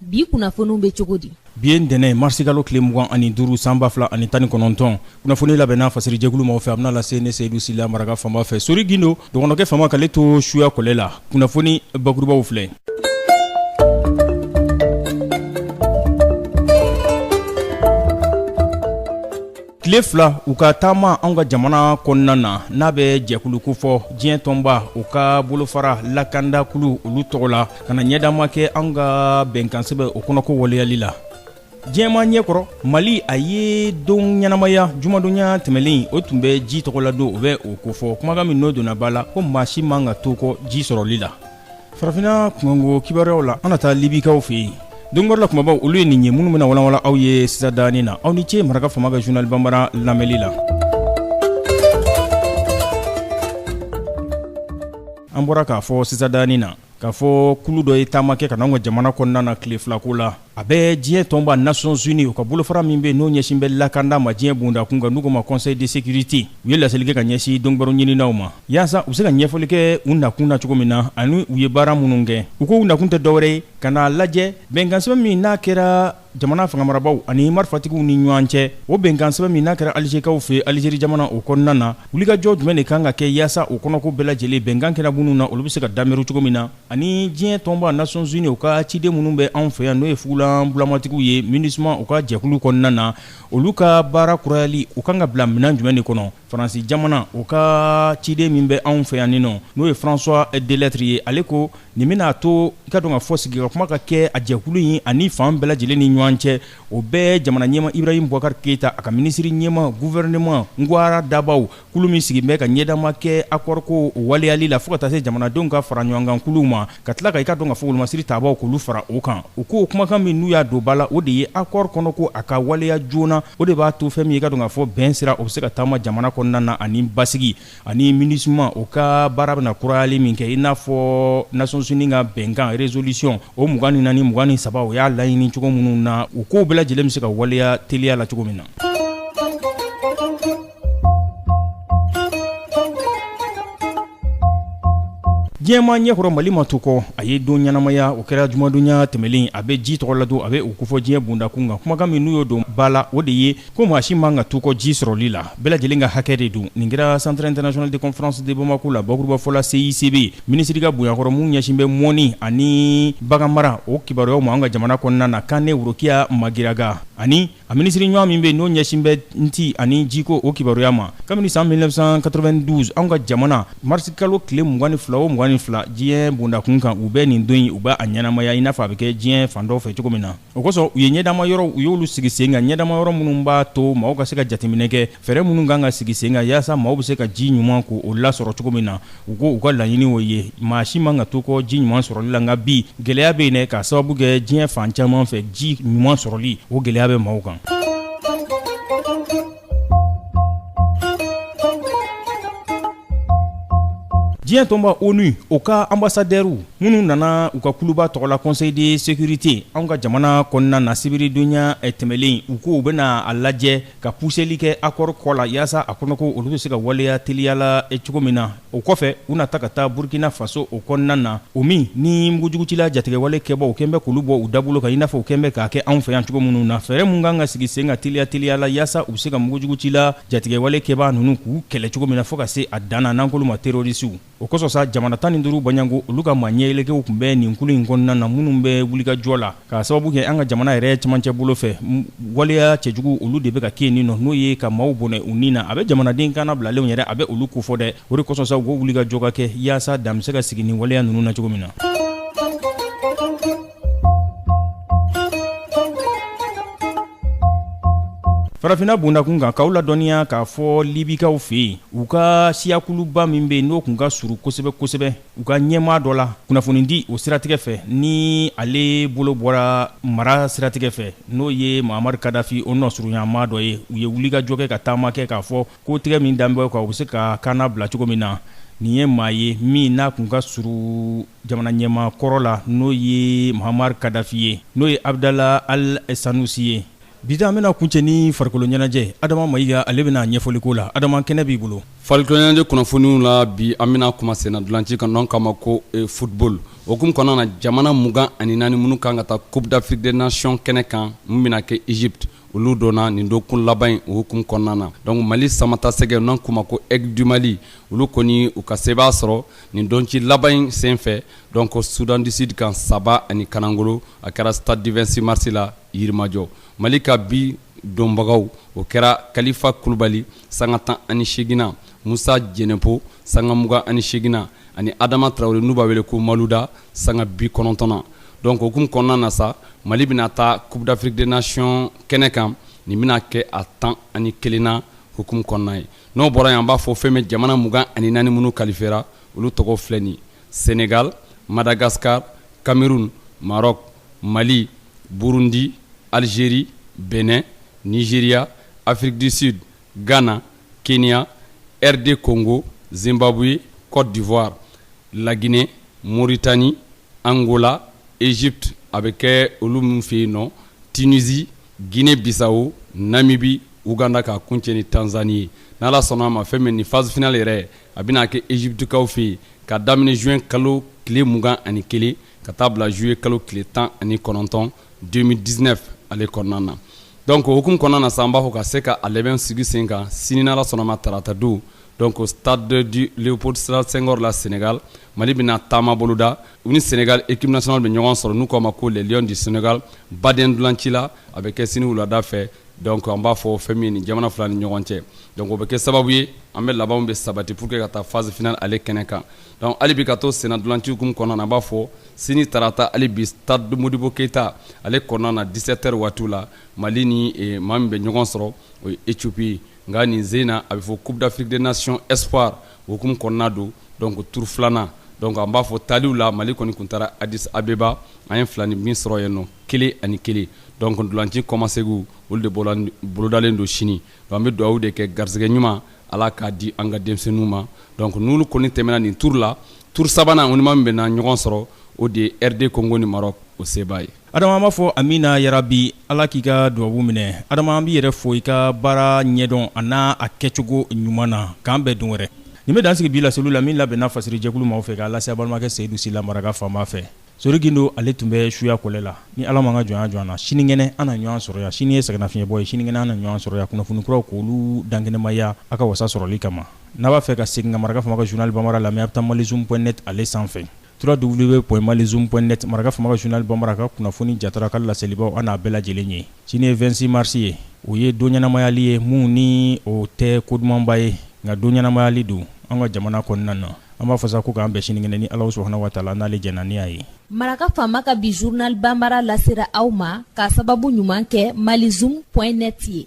bi kunnafoniw bɛ cogo di bi ye ntɛnɛn ye marisikalo tile mugan ani duuru san ba fila ani tan ni kɔnɔntɔn kunnafoni labɛnna fasiri jɛkulu maaw fɛ a bɛna lase ne seyidu sila maraka faama fɛ sori gindo dɔgɔnɔkɛ faama k'ale to suya kɔlɛ la kunnafoni bakurubaw filɛ Tile fila u ka taama an ka jamana kɔnɔna na n'a bɛ jɛkulu kofɔ diɲɛ tɔnba u ka bolofara lakandakulu olu tɔgɔ la ka na ɲɛdama kɛ an ka bɛnkansɛbɛn o kɔnɔko waleyali la diɲɛmaa ɲɛkɔrɔ mali a ye don ɲɛnamaya jumadonya tɛmɛlen o tun bɛ ji tɔgɔladon o bɛ o kofɔ kumakan min n'o donna ba la ko maa si man ka to kɔ ji sɔrɔli la farafinna kunkanko kibaruyaw la an na taa libikaw fɛ yen donkibaru la kumabaw olu ye nin ye minnu bɛna walanwalan aw ye sisan dani na aw ni ce maraka faama ka zurunali banbara lamɛnli la an bɔra k'a fɔ sisan dani na k'a fɔ kulu dɔ ye taama kɛ ka na anw ka jamana kɔnɔna na tile filako la A bɛ diɲɛ tɔnba nations unies u ka bolofara min bɛ n'o ɲɛsin bɛ lakanda ma diɲɛ bonda kun kan n'u k'o ma conseil de sécurité u ye laseli kɛ ka ɲɛsin donbaro ɲininaw ma yaasa u se ka ɲɛfɔli kɛ u nakun na cogo min na ani u ye baara minnu kɛ u ko u nakun tɛ dɔwɛrɛ ye ka n'a lajɛ bɛnkansɛbɛn min n'a kɛra jamana fanga marabaaw ani marifatigiw ni ɲɔgɔn cɛ o bɛnkansɛbɛn min n'a kɛra alizekaw fɛ alizeri jamana o kɔnɔna na wulikajɔ jumɛn de kan ka kɛ yaasa o kɔnɔko bɛɛ lajɛlen bɛnkan kɛra minnu na olu bɛ se ka dabiri cogo min na ani diɲɛ tɔnba nations unies u ka ciden minnu bɛ anw fɛ yan n'o ye fugulan bulamatigiw ye minusma u ka jɛkulu kɔnɔna na olu ka baara kurayali u kan ka bila minɛn jumɛn de kɔnɔ faransi jamana u ka ciden min bɛ anw fɛ yan nin nɔ n'o ye françois delattre ye ale ko nin bɛna to i k'a dɔn k'a fɔ sigi ka kuma ka kɛ a jɛkulu in ani fan bɛɛ lajɛlen ni ɲɔgɔn cɛ o bɛɛ jamana ɲɛmaa ibrahim boubacar keita a ka minisiri ɲɛmaa gouvernement ka baaradabaw kulu min sigin bɛ ka ɲɛdama kɛ accord kow waleyali la fo ka taa se jamanadenw ka faraɲɔgɔnkan kuluw ma ka tila ka i k'a dɔn k'a fɔ wolomasiri taabaw k'olu fara o kan u ko kumakan min n'u y'a don ba la o de ye accord kɔnɔko a ka waleya joona o de b'a to fɛn min ye i k'a dɔn k'a fɔ bɛn sira o bɛ se ka taama jamana kɔnɔna na ani basigi ani minusma o ka baara bɛna kurayali min kɛ i n'a fɔ nations unies ka bɛnkan résolution o mugan ni naani mugan ni saba o y'a laɲini cogo minnu na u kow bɛɛ lajɛlen bɛ se ka waleya teliya la cogo min na diɲɛmaa ɲɛkɔrɔ mali ma to kɔ a ye don ɲɛnamaya o kɛra jumadonya tɛmɛlen a bɛ ji tɔgɔladon a bɛ o kofɔ diɲɛ bonda kun kan kumakan min n'u y'o don ba la o de ye ko maa si man ka to kɔ ji sɔrɔli la bɛɛ lajɛlen ka hakɛ de don nin kɛra centre international de conférence de bamako la bakurubafɔ la CICB minisiri ka bonya kɔrɔ min ɲɛsin bɛ mɔnni ani baganmara o kibaruyaw ma an ka jamana kɔnɔna na kane worokiya magiraga ani A minisiri ɲɔgɔn min bɛ n'o ɲɛsin bɛ tɛ ani jiko o kibaruya ma kabini san 1992 an ka jamana marisikalo tile 22 o 22 diɲɛ bondakun kan u bɛ nin don in u b'a ɲɛnamaya i n'a fɔ a bɛ kɛ diɲɛ fan dɔw fɛ cogo min na o kosɔn u ye ɲɛdama yɔrɔw u y'olu sigi sen kan ɲɛdama yɔrɔ minnu b'a to maaw ka se ka jateminɛ kɛ fɛɛrɛ minnu kan ka sigi sen kan yaasa maaw bɛ se ka ji ɲuman ko o lasɔrɔ cogo min na u ko u ka laɲini o ye maa si man ka to kɔ ji ɲuman sɔrɔli la nka bi gɛlɛya bɛ yen dɛ k'a sababu kɛ diɲɛ fan caman fɛ ji ɲuman sɔrɔli o gɛlɛya bɛ maaw kan diɲɛ tɔnba onu o ka anbasadɛriw minnu nana u ka kuluba tɔgɔ la conseil de sécurité anw ka jamana kɔnɔna na sibiridonɲa tɛmɛlen u ko u bɛna a lajɛ ka puseli kɛ akɔri kɔ la yaasa a kɔnɔko olu bɛ se ka waleya teliya la eh, cogo min na o kɔfɛ u na ta ka taa burkina faso o kɔnɔna na o min ni mugujugutila jatigɛwale kɛbaaw u kɛn bɛ k'olu bɔ u dabolo kan i n'a fɔ u kɛn bɛ k'a kɛ anw fɛ yan cogo minnu na fɛɛrɛ mun kan ka sigi sen kan teliya teliya la yaasa u bɛ se ka mugujugutila jatigɛwale kɛbaa ninnu k'u kɛlɛ cogo min na fɔɔ ka se a dan na n'an k'olu ma terorisiw O kosɔn sa jamana tan ni duuru bɔɲɔgɔnko olu ka maa ɲɛyɛlɛkɛw tun bɛ nin kulu in kɔnɔna na minnu bɛ wulikajɔ la k'a sababu kɛ an ka jamana yɛrɛ cɛmancɛ bolo fɛ waleya cɛjugu olu de bɛ ka kɛ nin nɔ n'o ye ka maaw bɔnɛ u ni na a bɛ jamanaden kannabilalenw yɛrɛ a bɛ olu kofɔ dɛ o de kosɔn sa u ko wulikajɔ ka kɛ yaasa dan bɛ se ka sigi ni waleya ninnu na cogo min na farafinna bondakun kan k'aw ladɔnniya k'a fɔ libikaw fɛ yen u ka siyakuluba min bɛ yen n'o tun ka surun kosɛbɛ kosɛbɛ u ka ɲɛmaa dɔ la kunnafonidi o siratigɛ fɛ ni ale bolo bɔra mara siratigɛ fɛ n'o ye mahamadu kadafi o nɔsurunyanmaa dɔ ye u ye wulikajɔ kɛ ka taama kɛ k'a fɔ kotigɛ min dan b'a kan u bɛ se k'a kannabila cogo min na nin ye maa ye min n'a tun ka surun jamana ɲɛmaa kɔrɔ la n'o ye muammar kadafi ye n'o ye abudala ali sanusi ye bi an bɛna kuncɛ ni farikolo ɲɛnajɛ adama mayiga ale bɛna ɲɛfɔli k'o la adama kɛnɛ b'i bolo farikoloɲɛnajɛ kunnafoniw la bi an bɛna kuma senna ntolanci kan n'an k'a ma ko football o hukumu kɔnɔna na jamana mugan ani naani minnu kan ka taa coupe d'afrique des nations kɛnɛ kan min bɛna kɛ egypte olu dɔnna nin dɔgɔkun laban in o hukumu kɔnɔna na donc Mali samatasɛgɛ n'an k'o ma ko Aigle du Mali olu kɔni u ka sebaaya sɔrɔ nin ntolanci laban in sen fɛ donc Soudan du Sud kan saba ani kanangolo a kɛra stade du 26 mars la Yirimajɔ Mali ka bi donbagaw o kɛra Kalifa Kulubali sanga 18 nan Musa Jɛnɛpo sanga 28 nan ani Adama Tarawele n'u b'a wele ko Maluda sanga bi kɔnɔntɔnna donc o hukumu kɔnɔna na sa Mali bɛna taa Coupe d'Afrique des Nations kɛnɛ kan nin bɛna kɛ a tan ani kelenna hukumu kɔnɔna ye n'o bɔra yen an b'a fɔ fɛn min jamana mugan ani naani minnu kalifera olu tɔgɔ filɛ nin Senegal Madagascar Cameroun Maroc Mali Burundi Algerie Benin Nigeria Afrique du Sud Ghana Kenya RD Congo Zimbabwe Cote d'Ivoire la Guinee Mauritanie Angola Egypte a bɛ kɛ olu min fɛ yen nɔ Tunisie Guinee Bissau Namibie Ouganda ka kuncɛ ni Tanzanie ye ni ala sɔnna a ma fɛn min nin phase finale yɛrɛ a bɛna kɛ Egyptekaw fɛ yen ka daminɛ juin kalo tile mugan ani kelen ka taa bila juillet kalo tile tan ani kɔnɔntɔn 2019 ale kɔnɔna na donc o hukumu kɔnɔna na sa an b'a fɔ ka se ka a labɛn sigi sen kan sini n'Ala sɔnna a ma tarata don donc stade du Leopold Sedar Senghor la Senegal Mali bɛna taama boloda u ni Senegal équipe nationale bɛ ɲɔgɔn sɔrɔ n'u k'o ma ko les lions du Senegal baden ntolanci la a bɛ kɛ sini wulada fɛ donc an b'a fɔ fɛn min ye nin jamana fila ni ɲɔgɔn cɛ donc o bɛ kɛ sababu ye an bɛ labɛnw bɛ sabati pour que ka taa phase finale ale kɛnɛ kan donc hali bi ka to sennantolanci hukumu kɔnɔna na an b'a fɔ sini tarata hali bi stade de Modibo Keita ale kɔnɔna na dix-sept heures waatiw la Mali ni maa min bɛ ɲɔgɔn sɔrɔ o ye Ethiopie ye nka nin sen in na a bɛ fɔ Coupe d'Afrique des Nations Espoir o hukumu kɔnɔna don donc tour filanan donc an b'a fɔ taaliw la Mali kɔni tun taara Addis Abeba an ye filanin min sɔrɔ yen nɔ kelen ani kelen donc ntolanci kɔmasegin olu de bolodalen don sini An bɛ dugawu de kɛ garisɛgɛ ɲuman ala k'a di an ka denmisɛnninw ma donc n'olu kɔni tɛmɛna nin tour la tour sabanan o ni maa min bɛna ɲɔgɔn sɔrɔ o de ye RD Congo ni Maroc o sebaa ye Adama an b'a fɔ amiina yarabi ala k'i ka dubabu minɛ Adama an b'i yɛrɛ fo i ka baara ɲɛdɔn a n'a a kɛcogo ɲuman na k'an bɛn don wɛrɛ nin bɛ dan sigi bi laseli la min labɛnna fasiri jɛkulu maaw fɛ k'a lase a balimakɛ Seyidu Sila Maraka Faama fɛ Sori Gindo ale tun bɛ suya kɔlɛ la ni ala m'an ka jɔnya jɔ an na sinikɛnɛ an na ɲɔgɔn sɔrɔ yan sini ye sɛgɛnnafiɲɛbɔ ye sinikɛnɛ an na ɲɔgɔn sɔrɔ yan kunnafoni kuraw k'olu dankɛnɛmaya a ka wasa sɔrɔli kama n'a b'a fɛ ka segin ka Maraka Faama ka journal bambara lamɛn a bɛ taa mali zoom point net ale sanfɛ trois w point mali zoom point net Maraka Faama ka journal bambara ka kunnafoni jatara ka laselibaw an n'a bɛɛ lajɛlen ye sini ye vingt-six mars ye o ye don ɲɛnamayali ye min ni o tɛ ko dumanba ye nka don ɲɛnamayali don an ka jamana kɔnɔna na an b'a fɔ sa ko k'an bɛn sinikɛnɛ ni ala subhana wa taala n'ale jɛnna ni a ye Maraka Faama ka bi journal bambara lasera aw ma k'a sababu ɲuman kɛ mali zoom point net ye